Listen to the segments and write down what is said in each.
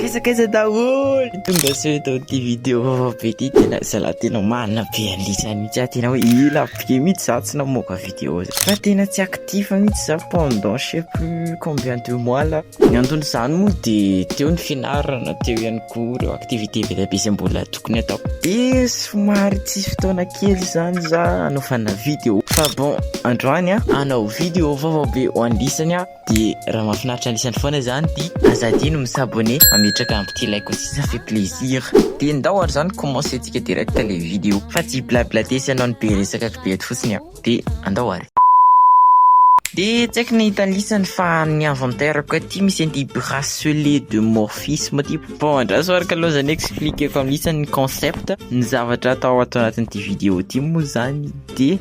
Kaiza kaiza daholo tonga sao eto amin'ity vidéo vaovao be ity tena zalahy tena marina be an'isa mihitsy aho tena hoe ela be mihitsy za tsy namoaka vidéo za fa tena tsy actif mihitsy za pendant je sais plus combien de mois là ny anton'izany moa de teo ny fianarana teo ihany koa ireo activité be dia be zay mbola tokony atao de somary tsisy fotoana kely izany za hanaovana vidéo fa bon androany an hanao vidéo vaovao be ho an'isany aho Dia raha mahafinaritra an'isany foana izany dia aza adino mi s'abonner, mametraka petit like aussi ça fait plaisir. Dia ndao ary izany commencer tsika direct le vidéo fa tsy blablade sy hanao ny be resaka kibe eto fotsiny aho. Dia andao ary. Dia tsy haiko ny hitanisany fa ny inventaire-ko aty misy an'ity bracelet de morphisme ity. Vao andraso ary ka lozan'ny expliquer-ko amin'isany ny concept, ny zavatra atao ato anatin'ity vidéo ity moa izany dia.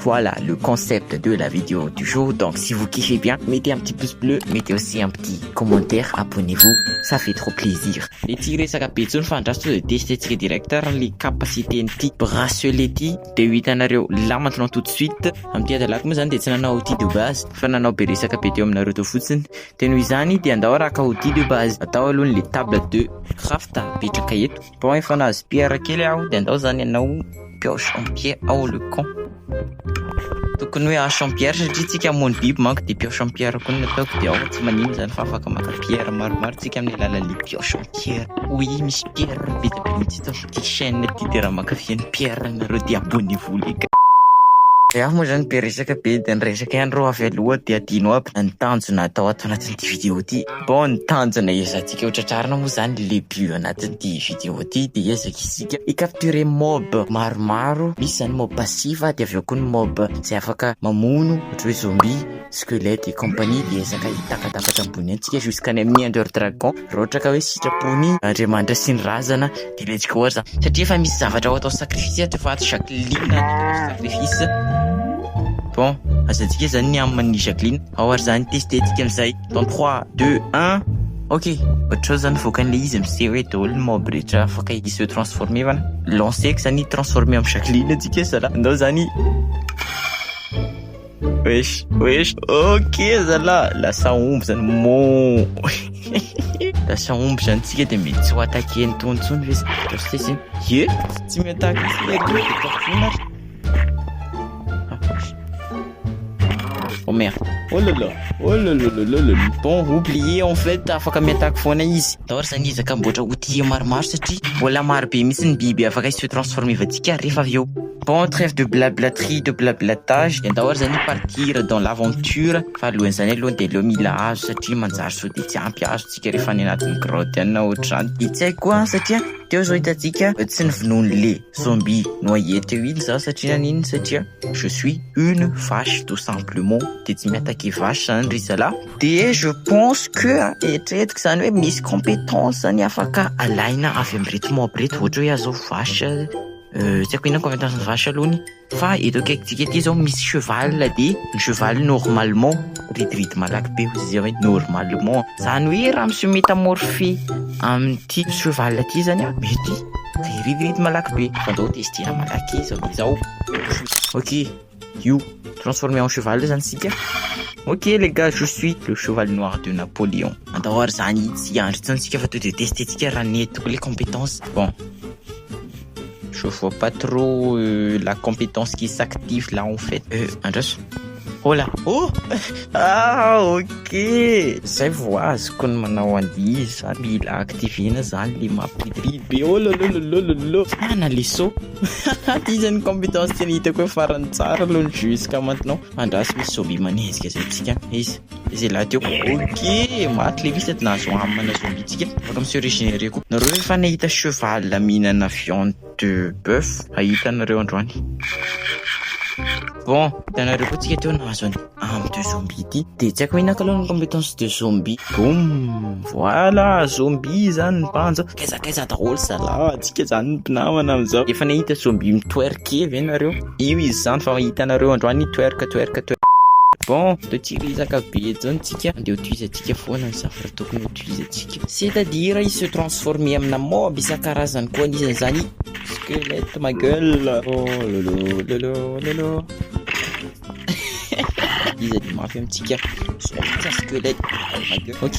Voilà le concept de la video du jour donc si vous kiffez bien mettez un petit pouce bleu mettez aussi un petit commentaire abonnez vous ça fait trop plaisir. Dia tsy hiresaka be intsony fa andraso tonga dia tester-tsika ny directeur ny capacité n'ity bracelet ity dia ho hitanareo là maintenant tout de suite. Amin'ity hadalako moa izany dia tsy nanao outil de base fa nanao be resaka be teo aminareo teo fotsiny dia noho izany dia andao arahaka outil de base atao aloha ny le table de craft apetraka eto. Bon efa nahazo pierre kely aho dia andao zany ianao mpeo champie ao le con. Tokony hoe aho champierre satria tsika hamono biby manko dia mpeo champierre koa ny ataoko dia ao tsy manino zany fa afaka maka pierre maromaro tsika amin'ny alalan'ny mpeo champierre. Oui misy pierre betsaka mihitsy eto amin'ity chaîne ity dia raha mankafy an'i pierre nareo dia abonnez-vous les gars. Dia aho moa zany be resaka be dia ny resaka ihany reo avy aloha dia adino aby na ny tanjona atao ato anatin'ity vidéo ity. Bon ny tanjona ezantsika ho tratrarina moa zany le but anatin'ity vidéo ty de ezaka isika i capturer mob maromaro misy zany mob passif de avy eo koa ny mob zay afaka mamono ohatra hoe zombie squelette et compagnie de ezaka hitakatapatra ambony eny tsika jusqu'any amin'ny ender dragon raha ohatra ka hoe sitrapon'i Andriamanitra sy ny razana de let's go ary zany satria efa misy zavatra ho atao sacrifice eto fa ato Jacqueline no atao sacrifice bon azantsika zany ny amin'ny Jacqueline ao ary zany tester tsika an'izay Dans 3, 2, 1 Ok, ohatrao zany voakan'ilay izy amin'izay hoe daholo ny mob rehetra afaka i se transformer fa lancer ko zany transformer am Jacqueline antsika zala ndao zany wesh wesh ok zala lasa omby zany mo lasa omby zany tsika de mety tsy ho attaquer ny tony tsony ve zany ye tsy mi attaque tsika Oh merde. Oh là là. Oh là là là là là. Bon, oublié en fait, afaka miattaque foana izy. D'or zany izy ka mboatra outil maromaro satria mbola maro be mihitsy ny biby afaka se transformer vantsika rehefa avy eo. Bon, trêve de blablaterie, de blablatage. Dia andao ary zany partir dans l'aventure fa alohan'izany aloha dia aleo mila hazo satria manjary sao dia tsy ampy hazo tsika rehefa any anatin'ny grotte any na ohatr'izany. Dia tsy haiko koa satria teo zao hitantsika tsy ny vonoan'le. Zombie noyé teo iny za satria naninona satria je suis une vache tout simplement de tsy miataky vache zany ry zalah de je pense que eritreretiko zany hoe misy compétence zany afaka alaina avy amreto mob reto ohatra hoe aza zao vache euh, tsy aiko inona compétence ny vache aloha ny Fa eto akaikintsika ity zao misy cheval de ny cheval normalement ridiridy malaky be hozy zay hoe normalement zany hoe raha misy métamorphe amin'ity cheval ity zany a mety de ridiridy malaky be fa ndao testena malaky zao izao ok io transformé en cheval io zany sika ok les gars je suis le cheval noir de Napoléon andao ary zany tsy andry tsony sika fa to de tester tsika raha nety koa le compétence bon Je vois pas trop euh, la compétence qui s'active là en fait. Euh, andraso. Oh là, oh Ah ok Zay vao azoko ny manao an'io za mila activena zany le mampidi be oh lolololololo Ah naleso Ty zany compétence tena hitako hoe farany tsara aloha jusqu'à maintenant Andraso misy zombie manenjika zay tsika izy Izay lahy teo. Ok, maty le vitsy na azo amana zombie-tsika. Afaka mi-se regenerer koa. Nareo ve efa nahita cheval mihinana viande de boeuf? Hahita anareo androany. Bon, hitanareo koa tsika teo nahazo an'i âme de zombie ity. Dia tsy haiko inona kalou ny compétence de zombie. Boum! Voilà, zombie zany ny banja. Kaiza kaiza daholo zalah, tsika zany ny mpinamana amizao. Efa nahita zombie mi-twerker ve nareo? Io izy zany fa hitanareo androany twerk twerk twerk. Bon, de tsy resaka be zany tsika, de ho tohizantsika foana ny zavatra tokony ho tohizantsika. C'est à dire i se transformer amina mob isan-karazany koa anisan' izany i squelette ma gueule. Lolo lolo lolo. Iza dia mafy amintsika? Squelette ma gueule. Ok.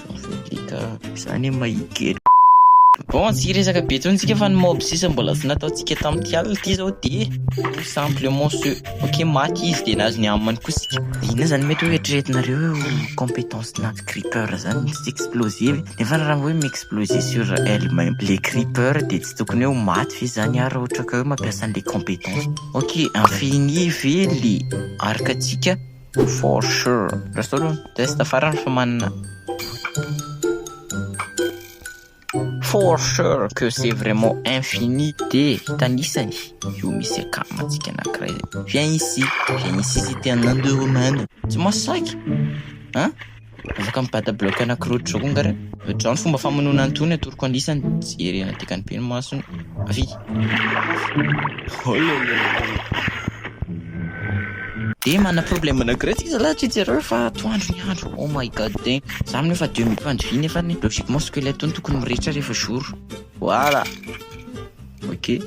Midika izany hoe mahigera. Bon, tsy hiresaka be intsony tsika fa ny mob sisa mbola tsy nataontsika tamin'ity alina ity izao dia tout simplement ce ok maty izy dia nahazo ny amany koa isika. Inona izany mety hoe eritreretinareo hoe ho compétence nazy creeper izany ny tsy exploser ve? Nefa raha hoe mi-exploser sur elle même ilay creeper dia tsy tokony hoe ho maty ve izany ary raha ohatra ka hoe mampiasa an'ilay compétence? Ok, infini ve ilay arc-ntsika? For sure. Lasa olo test farany fa manana. For sure que c'est vraiment infini de tanisany io misy akama antsika anankiray zay. Viens ici, viens ici si t'es un indo-romain. Tsy masaky. Hein? Afaka mibata bloc anaky roa drone nga re? Drao ny fomba famonoana an tony atoroko an lisany Jery an dikany be ny masony Avy Dia mana problème anakiray tsika zalahy tsy jereo fa atoandro ny andro Oh my god damn Za mino fa demi pandriviana efa ny logiquement squelette tony tokony mirehitra rehefa jour Voilà Ok,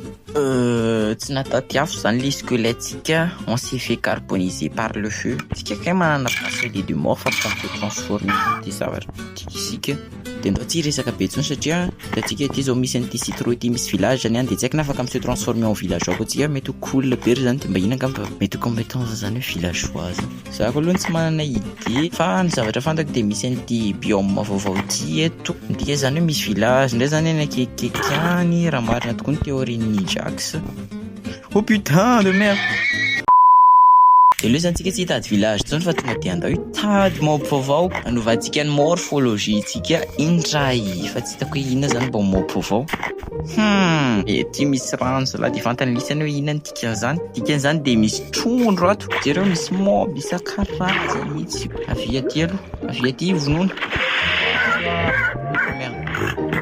tsy nataty afo zany le squelettsika, on s'est fait carboniser par le feu. Tsika kay manana bracelet de mort fa tsy afaka transformer ty zavatra ty isika, de ndao tsy hiresaka be tsony satria hitantsika ity zao misy an'ity citro ity misy village zany any de tsy haiko na afaka mi se transformer en villageois koa tsika, mety ho cool be ry zany de mba ino angamba mety ho competence zany hoe villageois zany. Za ko aloha tsy manana idée fa ny zavatra fantako dia misy an'ity biome vaovao ity eto, midika zany hoe misy village indray zany any akekikeky any raha marina tokoa ny théorie n'i Jax. Oh putain de merde! Dia aleo zany tsika tsy hitady village intsony fa tonga dia andao hitady mob vaovao hanovantsika ny morphologie ntsika indray fa tsy hitako hoe inona zany mbao mob vaovao. Hum! Ety misy rano zalahy dia fantany lisany hoe inona ity. Dia zany, dikan'izany dia misy trondro ato, jereo misy mob isan-karazany mihitsy. Avia aty aloha, avia aty ivonona.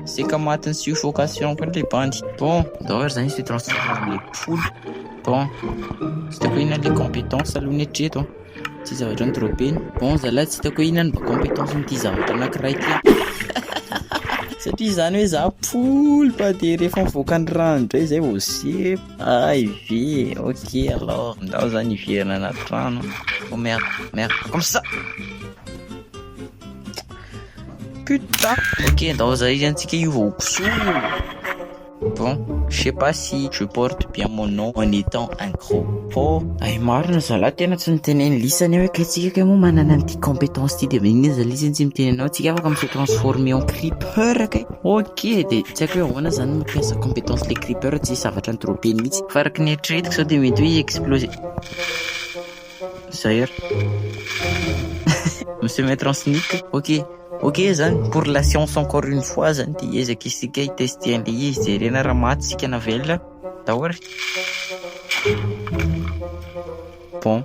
Seka matin'ny suffocation koa le bandy. Bon, ndao ary zany se transformer le poule. Bon, tsy hitako inona le compétence aloha ny hatreto an. Ity zavatra ny dropena. Bon zalahy tsy hitako inona ny compétence n'ity zavatra anankiray ity. Satria zany hoe za poule fa dia rehefa mivoaka ny rano indray zay vao sepo. Ah Ivy, ok alors ndao zany hiverina anaty trano. Oh merde, merde, comme ça. Putain. Ok, ndao zay izy antsika io vao koso. Bon, je sais pas si je porte bien mon nom en étant un gros pot. Ay marina zala tena tsy niteneny lisa ny hoe kay tsika kay moa manana an'ity compétence ity de magnino zala izy tsy miteny anao tsika afaka mi se transformer en creeper kay. Ok de tsy haiko hoe ahoana zany ny mampiasa compétence le creeper tsy zavatra ny dropeny mihitsy fa araka ny eritreretiko zao de mety hoe i explose zay ary monsieur maître en sneak ok ok zany pour la science encore une fois zany de hiezaka isika hitester an'le izy jerena raha maty isika na velona daholo bon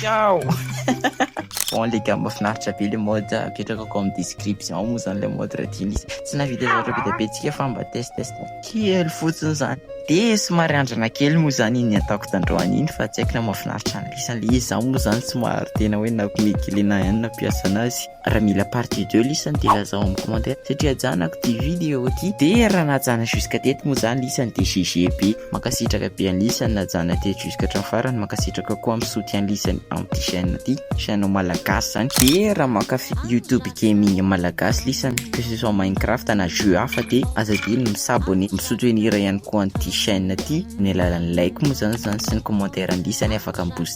Ciao Bon les gars mahafinaritra be le mode apetraka comme description moa zany le mode raha tian'izy tsy nahavita zareo be dia be tsika fa mba test test kely fotsiny zany dia somary andrana kely moa zany iny ataoko tandroany iny fa tsy haiko na mahafinaritra an'ilay isan'ilay izy za moa zany somary tena hoe na komeky le na inona mpiasa anazy Raha mila partie deux lisany de lazao amin'ny commentaire satria ajanako ty video ty de raha najana jusqu'à teto moa zany lisany de GG be. Mankasitraka be an'i lisany najana teto jusqu'à hatramin'ny farany, mankasitraka koa amin'ny soutien lisany amin'ity chaîne ty, chaîne malagasy zany, de raha mankafy youtube gaming malagasy lisany que ce soit minecraft na jeux hafa de aza adino mi s'abonner, mi soutenir ihany koa an'ity chaîne ty amin'ny alalan'ny like moa zany zany sy ny commentaire lisany afaka mi booster.